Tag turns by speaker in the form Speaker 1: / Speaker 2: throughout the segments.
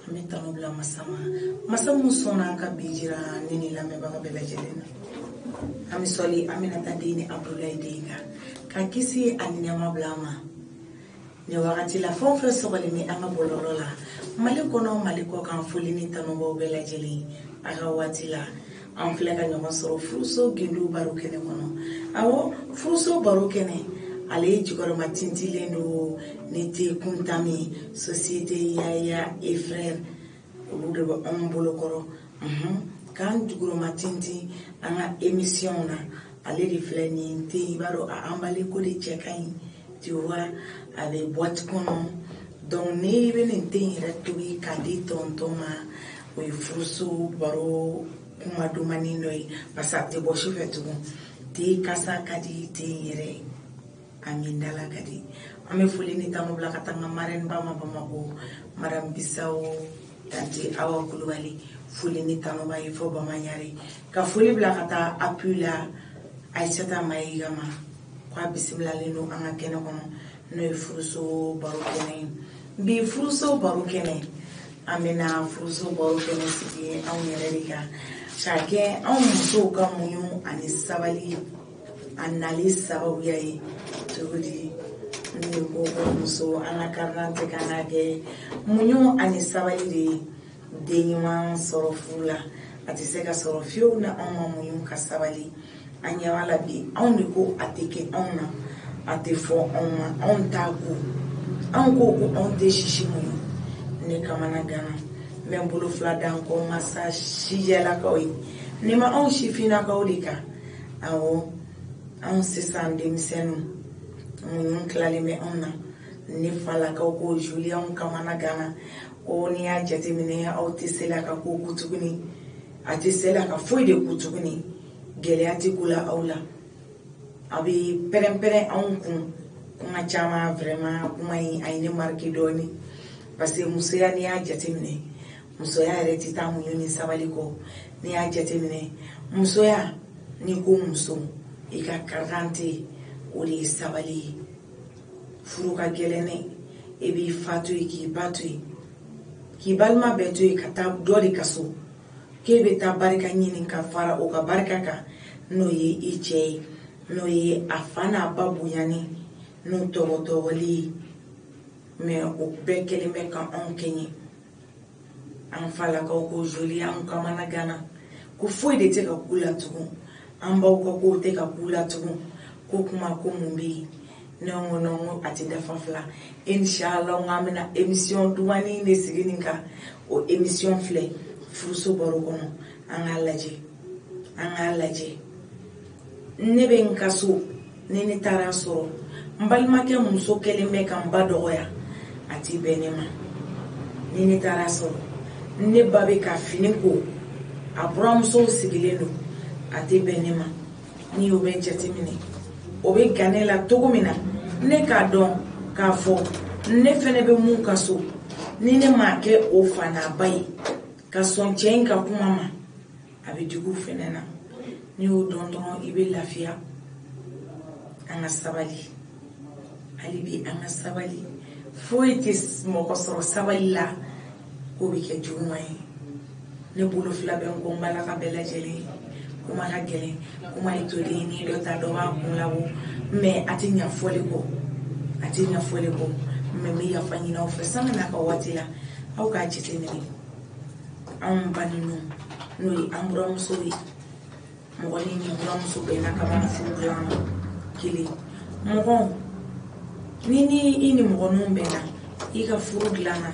Speaker 1: an bɛ tanu bila masa ma masa min sɔnna ka bi jira ne ni lamɛnbaga bɛɛ lajɛlen na an bɛ sɔli aminata den ni abudulayi den kan ka kisi ani nɛɛma bila a ma nin wagati la fɛn o fɛn sɔgɔlen bɛ an ka bɔlɔlɔ la mali kɔnɔ mali kɔkan foli ni tanu b'aw bɛɛ lajɛlen a ka waati la an filɛ ka ɲɔgɔn sɔrɔ furuso gundo baro kɛnɛ kɔnɔ a furuso baro kɛnɛ ale jukɔrɔma tintilen don ni te kunta min société yaya et frères olu de bɛ anw bolokɔrɔ k'an jukɔrɔma tintin an ka émission na ale de filɛ ni te i b'a dɔn anbale ko de cɛ ka ɲi tiwa a bɛ bwati kɔnɔ donc ne bɛ nin te yɛrɛ tobi ka di tɔntɔn ma o ye furuso baro kuma dumani dɔ ye parce que a tɛ bɔ su fɛ tugun te kasa ka di te yɛrɛ ye a min dala ka di an bɛ foli ni tanu bila ka taa n ka marɛniba ma bamakɔ madamu bisawo tante awa kulubali foli ni tanu b'a ye fo bamanyare ka foli bila ka taa apui la aisata mayiga ma k'a bisimilalen don an ka kɛnɛ kɔnɔ n'o ye furuso baro kɛnɛ ye Bi furuso baro kɛnɛ an bɛna furuso baro kɛnɛ sigi anw yɛrɛ de kan ka kɛ anw musow ka muɲu ani sabali a nali sababuya ye cogo di n'i ko ko muso an ka carte d'identité ka kan ka kɛ muɲu ani sabali de ye den ɲuman sɔrɔ furu la a tɛ se ka sɔrɔ fiyewu n'anw ma muɲu ka sabali an ɲɛ b'a la bi anw de ko a tɛ kɛ anw na a tɛ fɔ anw ma anw t'a ko anw ko ko anw tɛ sisi muɲu ne kamana gana n bɛ n bolo fila da n kɔ masa sijɛlakaw ye ne ma anw sifinnakaw de kan awɔ anw sisan denmisɛnninw muɲu tilalen bɛ anw na ne falakaw ko juliyɛnw kamana gana ko n'i y'a jateminɛ aw tɛ se la ka ko ku tuguni a tɛ se la ka foyi de ku tuguni gɛlɛya tɛ ku la aw la a bɛ pɛrɛnpɛrɛn anw kun tuma caman vraiment kuma in a ye ne marike dɔɔnin parce que musoya n'i y'a jateminɛ musoya yɛrɛ tɛ taa muɲu ni sabali kɔ n'i y'a jateminɛ musoya n'i ko muso i ka karadante o de ye sabali ye furu ka gɛlɛn dɛ e b'i fa to yen k'i ba to yen k'i balima bɛɛ to yen ka taa dɔ de ka so k'e bɛ taa barika ɲini ka fara o ka barika kan n'o ye i cɛ ye n'o ye a fa n'a ba bonyani n'u tɔgɔtɔgɔli ye mais o bɛɛ kelen bɛ ka anw kɛɲɛ an falakaw ko joli an kamana ganna ko foyi de tɛ ka k'u la tugun an baw ka kow tɛ ka k'u la tugun ko kuma ko mun bɛ yen ne ko non ko a tɛ dafa fila inshallah n k'an bɛna emission dumani de sigi nin kan o emission filɛ furuso baro kɔnɔ an k'a lajɛ an k'a lajɛ ne bɛ n ka so ni ne taara sɔrɔ n balimakɛ muso kɛlen bɛ ka n ba dɔgɔya a tɛ bɛn ne ma ni ne taara sɔrɔ ne ba bɛ ka fini ko a buramusow sigilen don a tɛ bɛn ne ma n'i y'o bɛɛ jateminɛ o bɛ gan ne la cogo min na ne k'a dɔn k'a fɔ ne fana bɛ min ka so ni ne m'a kɛ o fana ba ye ka sɔn cɛ in ka kuma ma a bɛ digi o fɛnɛ na n'i y'o dɔn dɔrɔn i bɛ lafiya an ka sabali hali bi an ka sabali foyi tɛ mɔgɔ sɔrɔ sabali la k'o bɛ kɛ juguman ye ne bolo fila bɛ n kɔ n balakaw bɛɛ lajɛlen kuma ka gɛlɛn kuma ye toden ni dɔ ta dɔ b'a kun labɔ mɛ a tɛ ɲa fɔli kɔ a tɛ ɲa fɔli kɔ mɛ n bɛ yafa ɲini aw fɛ sani n'a ka waati la aw k'a jateminɛ anw ba ninnu n'o ye an buramuso ye mɔgɔ ni n'i buramuso bɛnna ka furu kelen mɔgɔ ni ni i nimɔgɔninw bɛnna i ka furu dilanna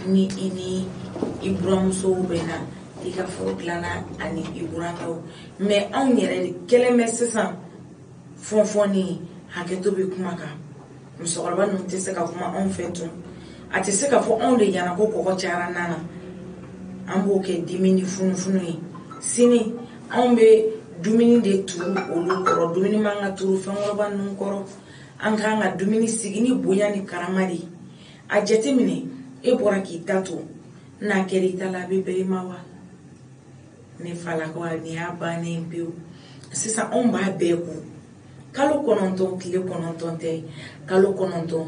Speaker 1: ni i ni i buramusow bɛnna i ka furu dilanna ani i burankɛw mɛ anw yɛrɛ de kɛlen bɛ sisan fɔnfɔnni hakɛto bɛ kuma kan musokɔrɔba ninnu tɛ se ka kuma anw fɛ tugun a tɛ se ka fɔ anw de ɲɛna ko kɔgɔ cayara nan na an b'o kɛ dimi ni funufunu ye sini anw bɛ dumuni de turu olu kɔrɔ dumuni man ka turu fɛnkɔrɔba ninnu kɔrɔ an k'an ka dumuni sigi ni bonya ni karama de ye a jateminɛ e bɔra k'i ta to n'a kɛra i ta la a bɛ bɛn i ma wa ne falakaw a nin y'a bannen pewu sisan anw b'a bɛɛ kun kalo kɔnɔntɔn tile kɔnɔntɔn tɛ kalo kɔnɔntɔn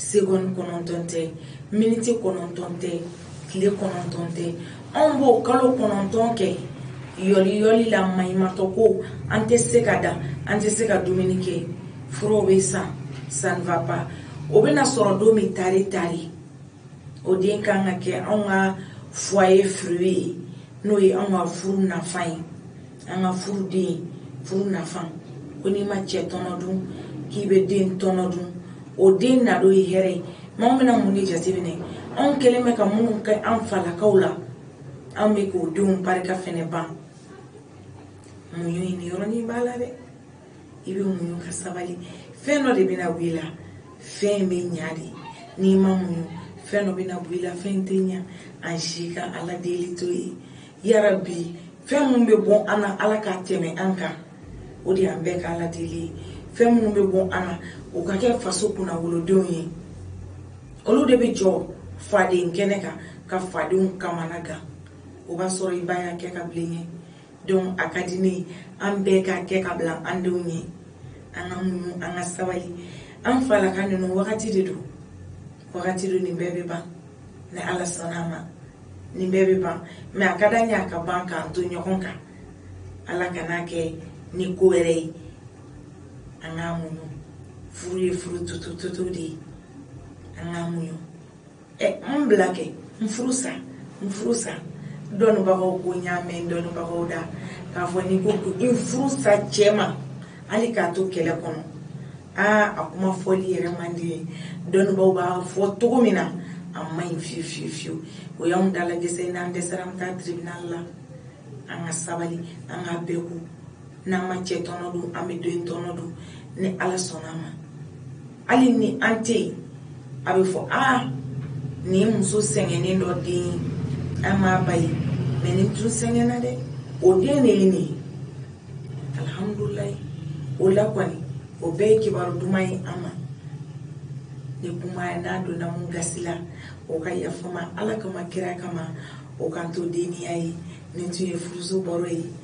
Speaker 1: segɔni kɔnɔntɔn tɛ miniti kɔnɔntɔn tɛ tile kɔnɔntɔn tɛ anw b'o kalo kɔnɔntɔn kɛ yɔli yɔli la maɲumatɔ ko an tɛ se ka da an tɛ se ka dumuni kɛ furaw bɛ san ça va pas o bɛna sɔrɔ don min tare tare o den kan ka kɛ anw ka foyer fruit ye n'o ye anw ka furu nafa ye an ka furu den furu nafa ko n'i ma cɛ tɔnɔ dun k'i bɛ den tɔnɔ dun o den nadon ye hɛrɛ ye maa bɛna mun de jateminɛ anw kɛlen bɛ ka minnu kɛ an falakaw la an bɛ k'o denw barika fɛnɛ ban mun ye nin yɔrɔnin b'a la dɛ i bɛ muɲu ka sabali fɛn dɔ de bɛna bɔ i la fɛn in bɛ ɲa de n'i ma muɲu fɛn dɔ bɛna bɔ i la fɛn tɛ ɲa an si ka ala deli t'o ye yarabi fɛn minnu bɛ bɔ an na ala ka tɛmɛ an kan o de y'an bɛɛ ka ala deli ye fɛn minnu bɛ bɔ an na o ka kɛ faso kunna wolodenw ye olu de bɛ jɔ faden kɛnɛ kan ka fadenw kamana gan o b'a sɔrɔ i ba y'a kɛ ka bila i ye donc a ka di ne ye an bɛɛ ka kɛ ka bila an denw ye an ka muɲu an ka sabali an falaka ninnu wagati de don wagati don nin bɛɛ bɛ ban ni ala sɔnna a ma nin bɛɛ bɛ ban mais a ka d'an ye a ka ban k'an to ɲɔgɔn kan ala kan'a kɛ ni ko wɛrɛ ye an k'a muɲu furu ye furu tutututu de ye an k'a muɲu ɛ n bila kɛ n furu sa n furu sa dɔnnibagaw ko n y'a mɛn dɔnnibagaw da k'a fɔ n'i ko ko n furu sa cɛ ma hali k'a to kɛlɛ kɔnɔ aa a kuma fɔli yɛrɛ man di ye dɔnnibaaw b'a fɔ cogo min na a ma ɲi fiyewu fiyewu fiyewu o y'anw dalagɛsɛ n'an dɛsɛra an bɛ taa tribunal la an ka sabali an k'a bɛɛ kun n'an ma cɛ tɔnɔ dun an bɛ den tɔnɔ dun ni ala sɔnna a ma hali ni an tɛ yen a bɛ fɔ aa nin muso sɛgɛnnen dɔ den ye an m'a ba ye mais nin tun sɛgɛnna dɛ o den de ye nin ye alihamudulilayi o la kɔni o bɛɛ ye kibaru duman ye amma ni kuma nin donna min gasi la o ka yafa n ma ala kama kira kama o k'an to denya ye nin tun ye furuso baro ye